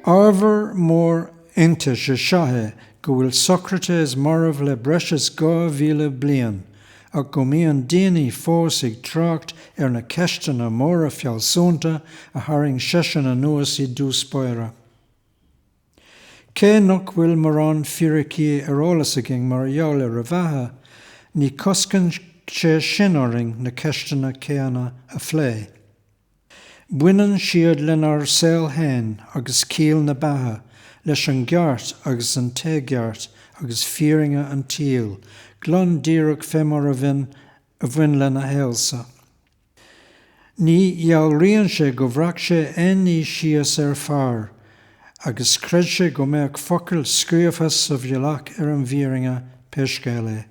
Ábhar mór iontais is ea é go bhfuil Socrates marbh le breis is dhá mhíle bliain, ach go mbíonn daoine fós ag trácht ar na ceisteanna móra fealsúnta a tharraing seisean anuas i dtús báire. Cé nach bhfuil mórán fíricí ar eolas againn mar gheall ar a bheatha, ní choscann sé sin orainn na ceisteanna céanna a phlé. Baineann siad lenár saol fhéin agus ciall na beatha, leis an gceart agus an t-éigeart agus fírinne an tsaoil, glan díreach fé mar a bhain, a bhain lena shaol-sa. Ní dhealraíonn sé gur bhreac sé aon ní síos ar phár agus chreid sé go mbeadh focail scríofa sa bhealach ar an bhfírinne, pé scéal é.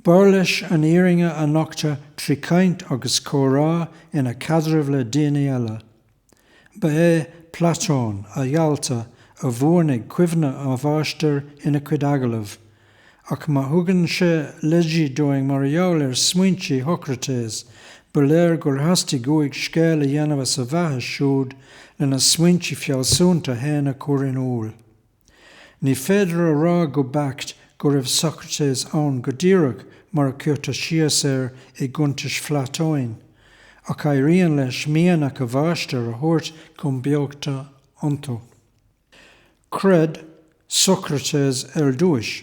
B'fhearr leis an fhírinne a nochtadh trí chaint agus comhrá ina chaidreamh le daoine eile. Ba é Platón, a dhalta, a bhuanaigh cuimhne a mháistir ina chuid agallamh, ach má thugann sé leidí dúinn mar gheall ar smaointe Shocraitéas, ba léir gur theastaigh uaidh scéal a dhéanamh as a bheatha siúd lena smaointe fealsúnta fhéin a chur in iúl. Ní féidir a rá go beacht go raibh Socrates ann go díreach mar a chuirtear síos air i gcuntais Phlatóin, ach éiríonn leis mianach a mháistir a thabhairt chun beochta iontu. Chreid Socrates ar dtúis.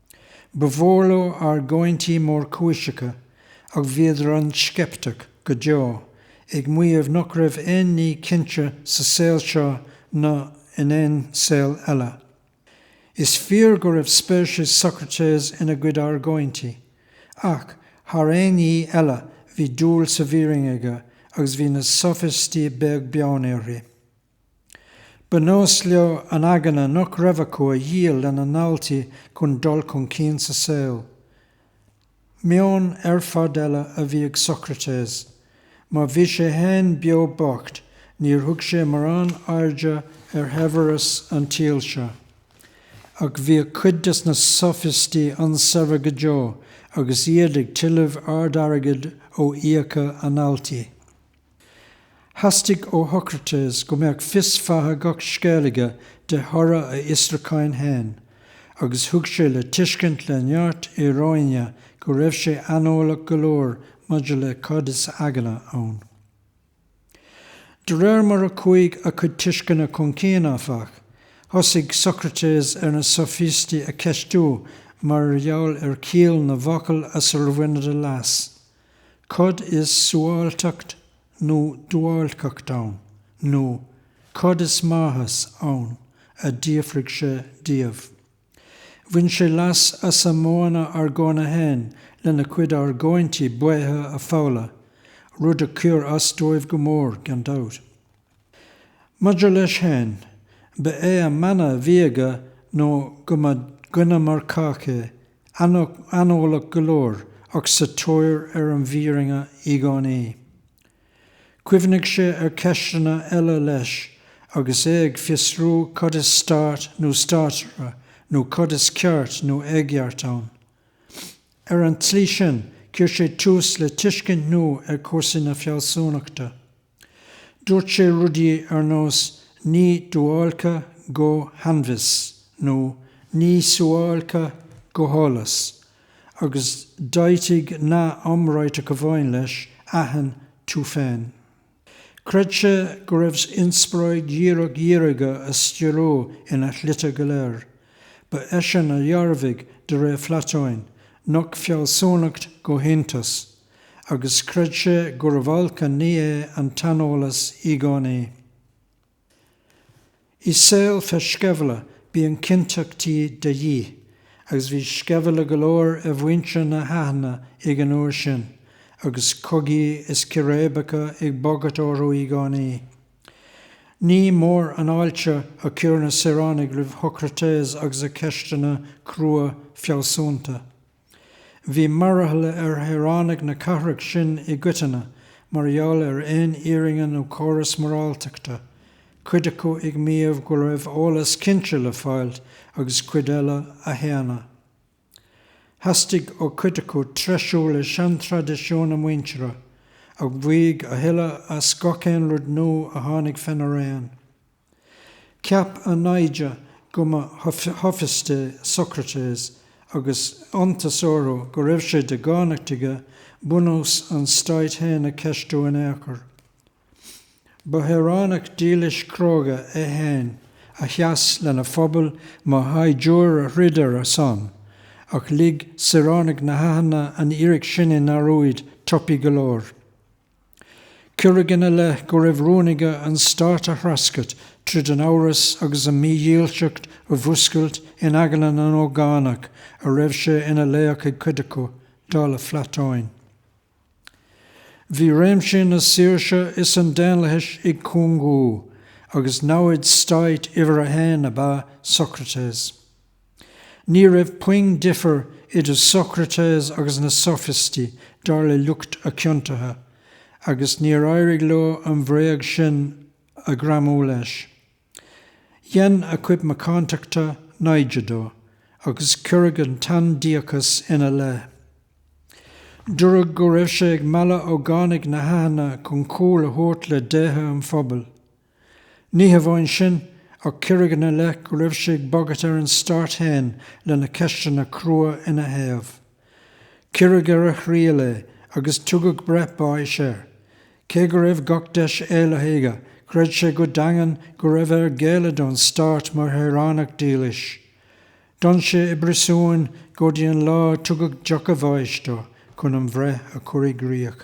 Ba mhór leo argóintí mórchúiseacha ach bhíodar an-sceipteach go deo ag maíomh nach raibh aon ní cinnte sa saol seo ná in aon saol eile. Is fíor go raibh spéis ag Socrates ina gcuid argóintí, ach thar aon ní eile bhí dúil sa bhfírinne aige agus bhí na Sofaistí beag beann uirthi. Ba nós leo an eagna nach raibh acu a dhíol lena ndaltaí chun dul chun cinn sa saol. Meon ar fad eile a bhí ag Socrates. Má bhí sé fhéin beo bocht níor thug sé mórán airde ar shaibhreas an tsaoil seo. Ach bhí cuid des na sofaistí an-shaibhir go deo agus iad ag tuilleamh ard-airgid ó fhiacha a ndaltaí. Theastaigh ó Shocrates go mbeadh fios fátha gach scéil aige de thoradh a fhiosrúcháin féin, agus thug sé le tuiscint le neart íoróine go raibh sé aineolach go leor maidir le cad is eagna ann. De réir mar a chuaigh a chuid tuisceana chun cinn, áfach, thosaigh Socrates ar na Sofaístigh a cheistiú mar gheall ar chiall na bhfocal as ar bhaineadar leas. Cad is suáilceacht nó duáilceacht ann? Nó cad is maitheas ann? a d'fhiafraigh sé díobh. Bhain sé leas as a modhanna argóna fhéin lena gcuid argóintí baotha a pholladh, rud a chuir as dóibh go mór, gan dabht. Maidir leis féin, ba é a mhana mhaígh sé go mba dhuine mar cách é, aineolach go leor ach sa tóir ar an bhfírinne i gcónaí. Chuimhnigh sé ar cheisteanna eile leis agus é ag fiosrú cad is stát nó státaire nó cad is ceart nó éigeart ann. Ar an tslí sin chuir sé tús le tuiscint nua ar chúrsaí na fealsúnachta. Dúirt sé rudaí ar nós ní duáilce go hainbhios nó ní suáilce go heolas agus d'áitigh sé nath iomráiteach amháin leis, aithin tú féin. Chreid sé go raibh inspioráid dhíreach dhiaga á stiúradh ina shlite go léir. Ba eisean a dhearbhaigh, de réir Phlatóin, nach fealsúnacht go hiontas. agus chreid sé gurbh olc an ní é an t-aineolas i gcónaí. I saol fé sceimhle bíonn cinnteachtaí de dhíth, agus bhí sceimhle go leor ar mhuintir na hAithne ag an uair sin, agus cogaí is ciréibeaca ag bagairt orthu i gcónaí. Ní mór an fháilte a chuir na saoránaigh roimh Shocrates agus a cheisteanna crua fealsúnta. Bhí mearathall ar shaoránaigh na cathrach sin i gcoitinne mar gheall ar aon fhírinne nó córas moráltachta, cuid acu ag maíomh go raibh eolas cinnte le fáil agus cuid eile á shéanadh. Theastaigh ó chuid acu treisiú le seantraidisiúin a muintire, ach mhaígh a thuilleadh as gach aon rud nua a tháinig féna raon. Cheap a naimhde go mba shofaist é Socrates agus iontas orthu go raibh sé de dhánacht aige bunús an Stáit fhéin a cheistiú in aon chor. Ba shaoránach dílis cróga é fhéin a sheas lena phobal mar shaighdiúir a throid ar a son, ach lig saoránaigh na hAithne an fhíric sin i ndearúd tapaidh go leor. Cuireadh ina leith go raibh rún aige an Stát a threascairt tríd an amhras agus an mhídhílseacht a mhúscailt in aigne na n-ógánach a raibh sé ina laoch ag cuid acu, dar le Platóin. Bhí réimsí na saoirse is an daonlathais ag cúngú, agus namhaid stáit uimhir a haon ab ea Socrates. Ní raibh puinn difir idir Sócraitéas agus na Sofaistí dar le lucht a chiontaithe, agus níor éirigh leo an bhréag sin a ghreamú leis. Dhein a chuid macántachta naimhde dó, agus cuireadh an t-aindiachas ina leith. Dúradh go raibh sé ag mealladh ógánaigh na hAithne chun cúl a thabhairt le déithe an phobail. Ní hamháin sin, ach cuireadh ina leith go raibh sé ag bagairt ar an Stát féin lena ceisteanna crua ina thaobh. Cuireadh ar a thriail é agus tugadh breith báis air. Cé go raibh gach deis éalaithe aige, chreid sé go daingean go raibh air géilleadh don Stát mar shaoránach dílis. D'fhan sé i bpríosún go dtí an lá a tugadh deoch a bháis dó chun an bhreith a chur i gcríoch.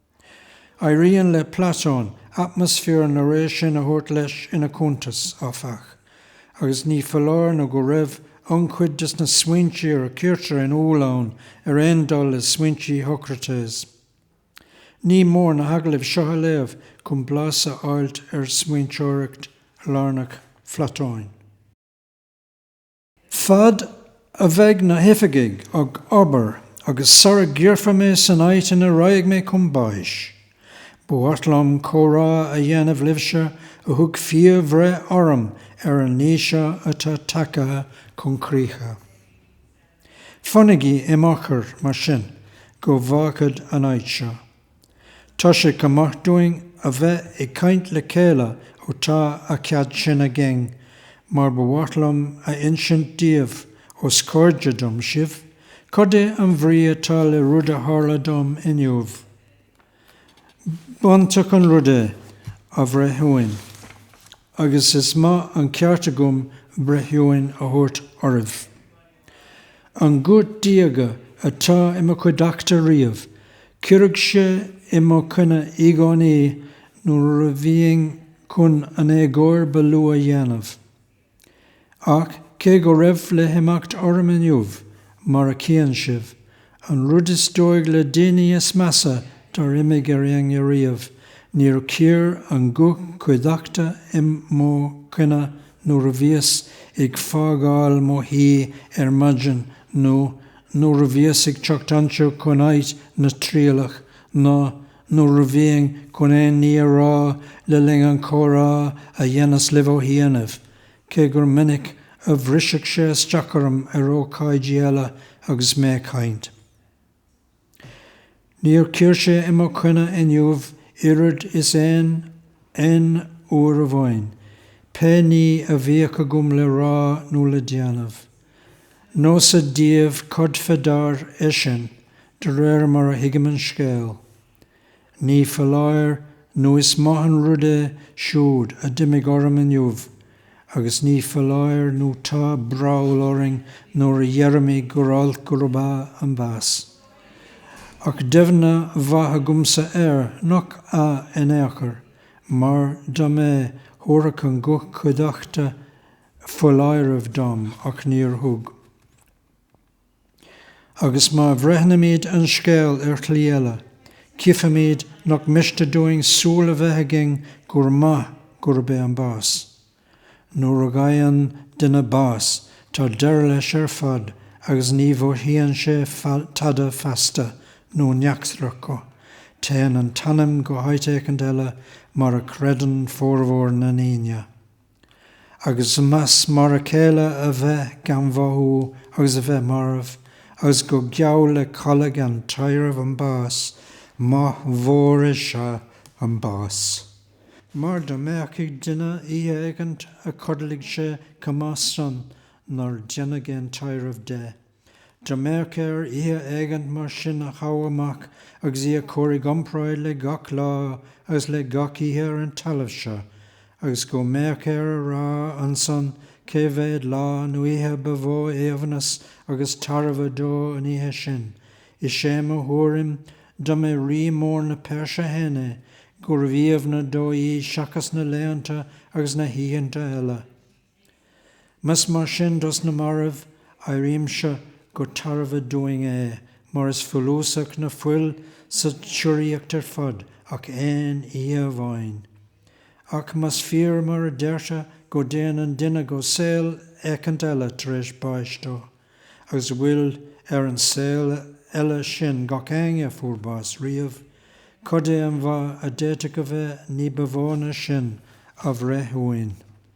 Éiríonn le Platón atmasféar na ré sin a thabhairt leis ina chuntas, áfach, agus ní foláir nó go raibh an-chuid de sna smaointí a cuirtear in iúl ann ar aon dul le smaointí Shócraitéas. Ní mór na hagallaimh seo a léamh chun blas a fháilt ar smaointeoireacht lárnach Phlatóin. Fad a bheidh na hoifigigh ag obair agus sara gcuirfear mé san áit ina raghaidh mé chun báis, ba mhaith liom comhrá a dhéanamh libhse a thug fíor-bhreith orm ar an ní seo atá tagaithe chun críche. Fanaigí im fhochair, mar sin, go bhfágfad an áit seo. Tá sé chomh maith dúinn a bheith ag caint le chéile ó tá a chead sin againn mar ba mhaith liom a insint daoibh, ós cairde dom sibh, cad é an bhrí atá le rud a tharla dom inniu. B'iontach an rud é, a bhreithiúin, agus is maith an ceart agam breithiúin a thabhairt oraibh. An guth diaga atá i mo chuideachta riamh, cuireadh sé i mo choinne i gcónaí nuair a bhínn chun an éagóir ba lú a dhéanamh. Ach cé go raibh le himeacht orm inniu, mar a chíonn sibh, An rud is dóigh le daoine is measa dár imigh ar éinne riamh, níor chuir an guth cuideachta i mo choinne nuair a bhíos ag fágáil mo thí ar maidin nó nuair a bhíos ag teacht anseo chun áit na trialach ná nuair a bhínn chun aon ní a rá le linn an chomhrá a dheineas libh ó chianaibh. cé gur minic a bhrisfeadh sé isteach orm ar ócáidí eile agus mé ag caint. Níor chuir sé i mo choinne inniu oiread is aon aon uair amháin, pé ní a bhíodh agam le rá nó le déanamh. Neosad díbh cad fé ndeár é sin, de réir mar a thuigim an scéal. Ní foláir nó is maith an rud é siúd a d'imigh orm inniu agus ní foláir nó tá breall orainn nuair a dheirimid gur olc gurb ea an bás. Ach deimhne mhaith agamsa air nach ea in aon chor, mar dá mb'ea thabharfadh an guth cuideachta foláireamh dom, ach níor thug. Agus má bhreithnímíd an scéal ar shlí eile, cífimíd nach miste dúinn súil a bheith againn gur maith gurb é an bás. Nuair a fhaigheann duine bás tá deireadh leis ar fad agus ní mhothaíonn sé tada feasta nó neachtar acu, téann an t-anam go háit éicint eile mar a chreideann formhór na ndaoine. Agus más mar a chéile a bheith gan mhothú agus a bheith marbh, agus gur geall le codladh gan taidhreamh an bás, maith mhór is ea an bás. Mar dá mbeadh ag duine oíche éigint a chodlaigh sé chomh maith san nár deineadh aon taidhreamh de. Dá mbeadh air oíche éigint mar sin a thoghadh amach agus í a chur i gcompráid le gach lá agus le gach oíche ar an talamh seo, agus go mbeadh air a rá ansan cé mhéad lá nó oíche ba mhó aoibhneas agus tairbhe dó an oíche sin. Is é mo thuairim, dá mb'é Rí mór na Peirse féin é, gurbh aoibhne dó í seachas na laethanta agus na hoícheanta eile. Más mar sin dos na mairbh, áirímse gur tairbhe dúinn é, mar is follasach ná fuil sa tsíoraíocht ar fad ach aon oíche amháin. Ach más fíor mar a deirtear go dtéann an duine go saol éicint eile tar éis báis dó, agus go bhfuil ar an saol eile sin gach éinne a fuair bás riamh, cad é an mhaith a d'fhéadfadh a bheith ní ba mhó ná sin a bhreithiúna?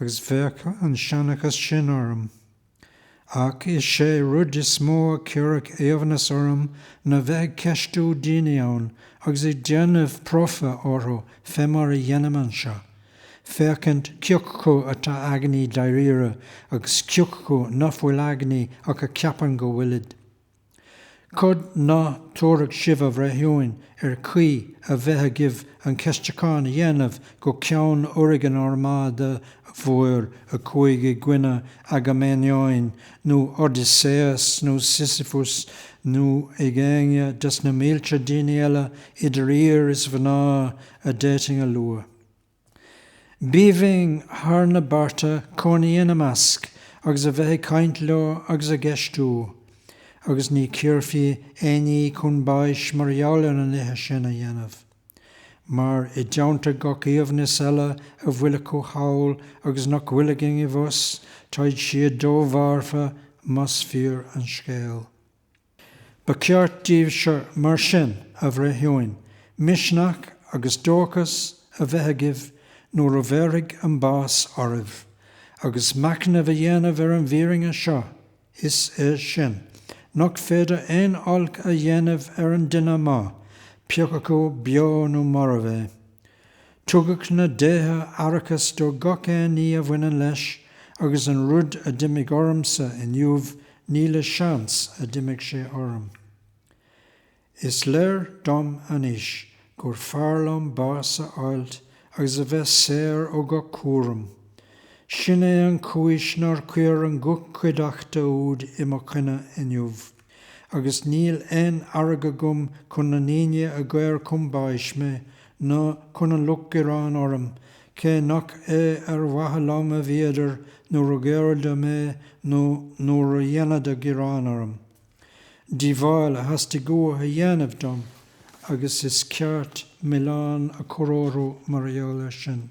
agus bheadh an seanchas sin orm. Ach is é rud is mó a chuirfeadh aoibhneas orm ná bheith ag ceistiú daoine ann agus ag déanamh promhtha orthu fé mar a dheinim anseo, féachaint ciocu atá eagnaí dairíre agus ciocu ná fuil eagnaí ach a cheapann go bhfuilid. Cad ná tabharfadh sibh a bhreithiúin ar caoi a bheith agaibh an ceistiúchán a dhéanamh go ceann urraidh an Armáda Mhóir, a chuaigh i gcoinne Agaiméamnóin nó Odaiséas nó Sisifus nó ag éinne des na mílte daoine eile idir fhir is mhná a d'fhéadfainn a lua. B'aoibhinn thar na bearta cónaí ina measc agus a bheith ag caint leo agus á gceistiú, agus ní cuirfí éinne chun báis mar gheall ar na nithe sin a dhéanamh. Mar, i dteannta gach aoibhneas eile a bhfuil acu thall agus nach bhfuil againn abhus, táid siad domharfa, más fíor an scéal. Ba cheart daoibhse mar sin, a bhreithiúin, misneach agus dóchas a bheith agaibh nuair a bhéarfaidh an bás oraibh, agus machnamh a dhéanamh ar an bhfírinne seo, is é sin, nach féidir aon olc a dhéanamh ar an duine maith, pé acu beo nó marbh é. Tugadh na déithe aireachas do gach aon ní a bhaineann leis agus an rud a d'imigh ormsa inniu ní le seans a d'imigh sé orm. Is léir dom anois gur fearr liom bás a fháilt agus a bheith saor ó gach cúram. Sin é an chúis nár chuir an guth cuideachta úd i mo choinne inniu. Agus níl aon fhearg agam chun na ndaoine a dhaor chun báis mé, ná chun an lucht gearán orm, cé nach é ar mhaithe liom a bhíodar nuair a dhaoradar mé nó nuair a dhéanadar gearán orm. Díobháil a theastaigh uathu a dhéanamh dom, agus is ceart milleán a chur orthu mar gheall air sin.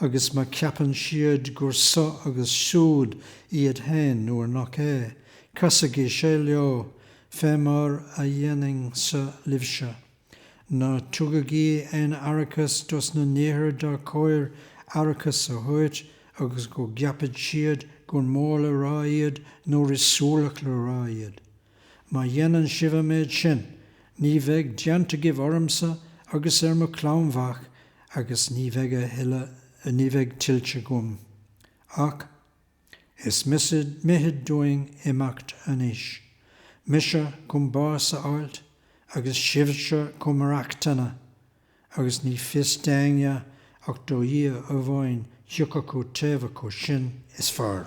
agus má cheapann siad gur so agus siúd iad féin nuair nach é, casaigí sé leo, fé mar a dhéanainnse libhse. Ná tugaigí aon aireachas dos na nithe dar chóir aireachas a thabhairt agus go gceapann siad gur mór le rá iad nuair is suarach le rá iad. Má dhéanann sibh an méid sin, ní bheidh déanta agaibh ormsa agus ar mo chlann mhac agus ní bheidh a thuilleadh, ní bheidh tuillte agam ach is mithid dúinn imeacht anois, mise chun bás a fháilt agus sibhse chun maireachtana, agus ní fios d'éinne ach do Dhia amháin cé acu taobh acu sin is fearr.